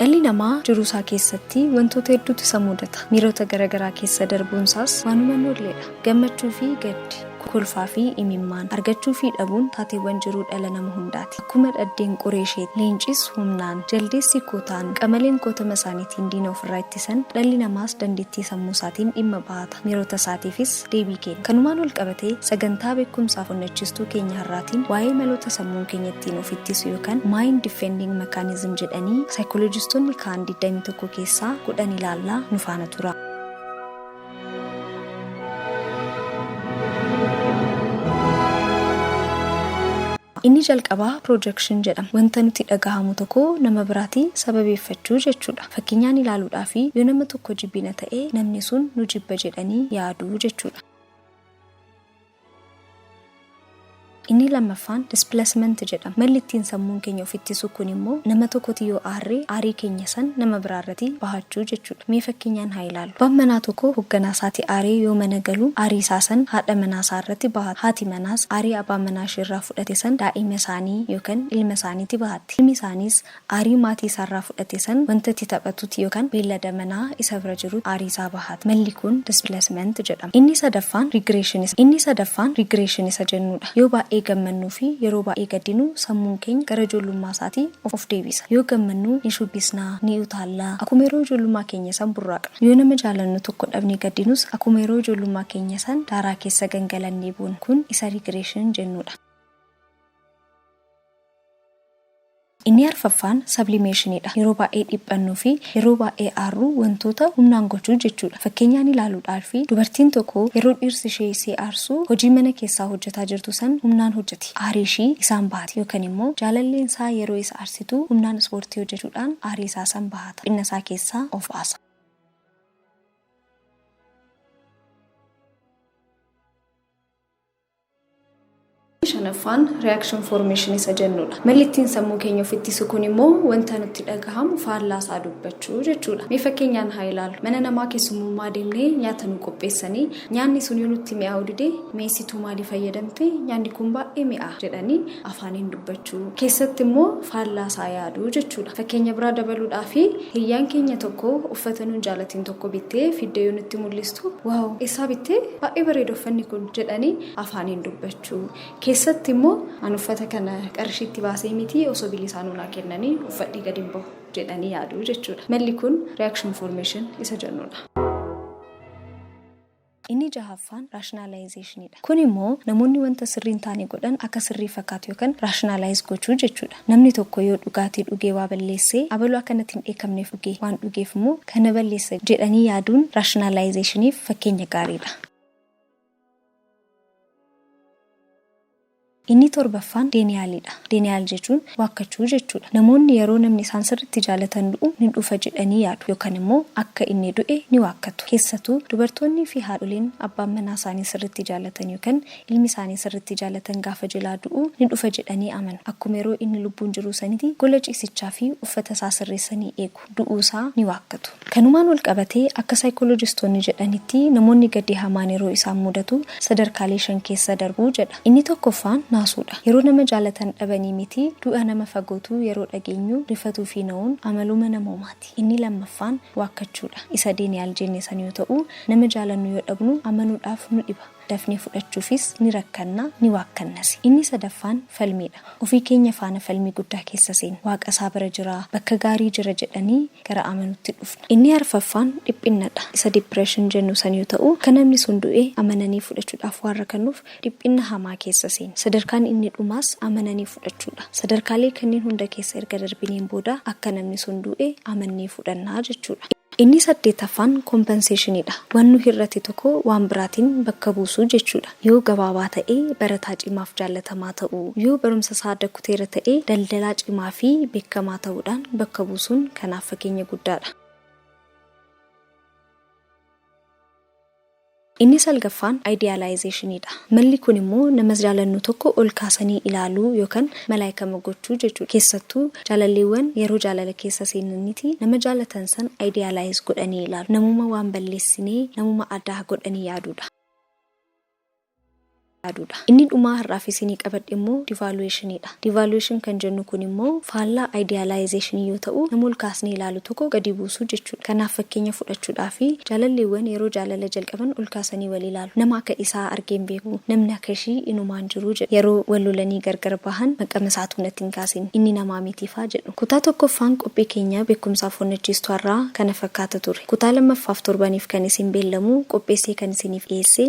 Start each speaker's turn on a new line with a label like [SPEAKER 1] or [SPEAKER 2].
[SPEAKER 1] Dhalli namaa jiruu isaa keessatti wantoota hedduutu isa mudata. Miirota garaagaraa keessa darbuun isaas waanuma hin oolledha. Gammachuu fi gaddi. kolfaa fi imimmaan, argachuu fi dhabuun taateewwan jiruu dhala nama hundaati. Akkuma dhaddeen qoree isheetti, leencis humnaan, jaldeessi kootaan, qamaleen kootama isaaniitiin diina ofirraa ittisan, dhalli namaas dandeettii sammuu isaatiin dhimma bahata, miirota isaatiifis deebii kenna. Kanumaan walqabatee, sagantaa beekumsaaf onnachistuu keenya har'aatiin waa'ee maloota sammuun keenya ittiin of ittisu yookan Mind Defending Mechanism jedhanii saayikolojistoonni kaa'an 21 keessaa 10 ilaalla, nu faana turaa. Inni jalqabaa projection jedhama. Wanta nuti dhagahamu tokko nama biraati sababeeffachuu jechuudha. Fakkeenyaan ilaaluudhaafi yoo nama tokko jibbina ta'e namni sun nu jibba jedhanii yaaduu jechuudha. Inni lammaffaan displacement jedhama. Malli ittiin sammuun keenya of ittisu kun immoo nama tokkoti yoo aarre aarii keenya san nama biraa irrati bahachuu jechuudha. Mee fakkeenyaan haa ilaallu. Abbaan manaa tokko hogganaa isaati aaree yoo mana galu aarii isaa san haadha manaa isaa irrati bahata. Haati manaas aarii abaa manaa ishee irraa fudhate san daa'ima isaanii yookan ilma isaaniiti bahatti. Ilmi isaaniis Aarii maatii isaarraa fudhate san wanta itti taphatutti yookan beellada manaa isa bira jirutti aarii isaa bahata. Malli kun displacement jedhama. Inni sadaffaan regression isa Inni sadaffaan regression isa jennuudha. Yoo baay'ee gammannuu fi yeroo baay'ee gaddinu sammuun keenya gara ijoollummaa isaatii of deebisa. Yoo gammannu ni shubbisna, ni utaalla, akkuma yeroo ijoollummaa keenya san burraaqna. Yoo nama jaalannu tokko dhabnee gaddinus akkuma yeroo ijoollummaa keenya san daaraa keessa gangalannee boona. Kun isa regression jennuudha. Inni arfaffaan Sablimeeshinii dha. Yeroo baay'ee dhiphannuu fi yeroo baay'ee aarruu wantoota humnaan gochuu jechuu dha. Fakkeenyaan ilaaluu dhaalfi dubartiin tokko yeroo dhiirsi ishee isee aarsuu hojii mana keessaa hojjetaa jirtu san humnaan hojjeti aarii ishii isaan bahati yookan immoo jaalalleen isaa yeroo isa aarsituu humnaan ispoortii hojjechuudhaan aarii isaa san bahata dhiphinna isaa keessaa of baasa. shanaffaan reaction formation isa jennudha. Malli ittiin sammuu keenya of ittisu kun immoo wanta nutti dhagahamu faallaa isaa dubbachuu jechuudha. Mee fakkeenyaan haa ilaalu. Mana namaa keessummummaa deemnee nyaata nu qopheessanii nyaanni sun yoo nutti mi'aawu dide meesituu maalii fayyadamte nyaanni kun baay'ee mi'aa jedhanii afaaniin dubbachuu. Keessatti immoo faallaa isaa yaaduu jechuudha. Fakkeenya biraa dabaluudhaa fi hiyyaan keenya tokko uffata nuun jaalatiin tokko bittee fiddee yoo nutti mul'istu waaw eessaa bittee Baay'ee bareeda uffanni kun jedhanii afaaniin dubbachuu. Keessatti immoo an uffata kana qarshiitti baasee miti osoo bilisaanuu naa kennanii uffadhee gadi hin bahu jedhanii yaaduu jechuudha. Malli kun reaction formation isa jennuudha. Inni jahaffaan rationalization dha. Kun immoo namoonni wanta sirrii hin taane godhan akka sirrii fakkaatu yookan rationalize gochuu jechuudha. Namni tokko yoo dhugaatii dhugee waa balleesse, abalu akka natti hin dheekkamneef dhuge, waan dhugeef immoo kan na balleessa jedhanii yaaduun raashinaalaayizeeshiniif fakkeenya gaarii dha. Inni torbaffaan denial dha. Denial jechuun waakkachuu jechuu dha. Namoonni yeroo namni isaan sirriitti jaalatan du'u ni dhufa jedhanii yaadu yookan immoo akka inni du'e ni waakkatu. Keessatuu dubartoonnii fi haadholiin abbaan manaa isaanii sirriitti jaalatan yookan Ilmi isaanii sirriitti jaalatan gaafa jelaa du'u ni dhufa jedhanii amanu. Akkuma yeroo inni lubbuun jiruu saniti gola ciisichaa fi uffata isaa sirreessanii eegu. Du'uu isaa ni waakkatu. Kanumaan wal qabatee akka saayikoolojistoonni jedhanitti namoonni gaddi hamaan yeroo isaan mudatu sadarkaalee shan keessa darbu jedha. Inni tokkoffaan naasuu dha. Yeroo nama jaalatan dhabanii miti du'a nama fagootuu yeroo dhageenyu rifatuu fi na'uun amaluma namoomaati. Inni lammaffaan waakkachuu dha. Isa Deeniyaal jenne san yoo ta'u nama jaalannu yoo dhabnu amanuudhaaf nu dhiba. dafnee fudhachuufis ni rakkanna, ni waakkannasi. Inni sadaffaan falmii dha. Ofii keenya faana falmii guddaa keessa seenna. Waaqa isaa bira jira, bakka gaarii jira jedhanii gara amanuutti dhufna. Inni arfaffaan dhiphinna dha. Isa depression jennu san yoo ta'u, akka namni sun du'e amananii fudhachuudhaaf waan rakannuuf dhiphinna hamaa keessa seenna. Sadarkaan inni dhumaas amananii fudhachuu dha. Sadarkaalee kanniin hunda keessa erga darbineen booda akka namni sun du'e amannee fudhanna jechuu dha. Inni saddeetaffaan compensation dha. Waan nu hir'ate tokko waan biraatiin bakka buusuu jechuudha. Yoo gabaabaa ta'e, barataa cimaaf jaallatamaa ta'uu, yoo barumsa isaa adda kuteera ta'e, daldalaa cimaa fi beekkamaa ta'uudhaan bakka buusuun kanaaf fakeenya guddaadha. Inni salgaffaan idealization dha. Malli kun immoo namas jaalannu tokko ol kaasanii ilaaluu yookan malaayikama gochuu jechuudha. Keessattuu jaalalleewwan yeroo jaalala keessa seenanitii nama jaalatan san idealize godhanii ilaalu. Namuma waan balleessinee namuma addaa godhanii yaaduudha. yaadu dha. Inni dhumaa har'aaf isinii qabadhe immoo devaluation dha. Devaluation kan jennu kun immoo faallaa idealization yoo ta'u nama ol kaasnee ilaalu tokko gadi buusuu jechuu dha. Kanaaf fakkeenya fudhachuudhaaf jaalalleewwan yeroo jaalala jalqaban ol kaasanii wal ilaalu. Nama akka isaa argee hin beeku, namni akka ishii inumaa hin jiru jedhu. Yeroo wal lolanii gargar bahan maqama isaatuu natti hin kaasin, inni namaa miti faa jedhu. Kutaa 1ffaan qophii keenya beekumsaaf onnachiistu har'aa kana fakkaata ture. Kutaa 2ffaaf torbaniif kan isin beellamu qopheessee kan isiniif dhiyeesse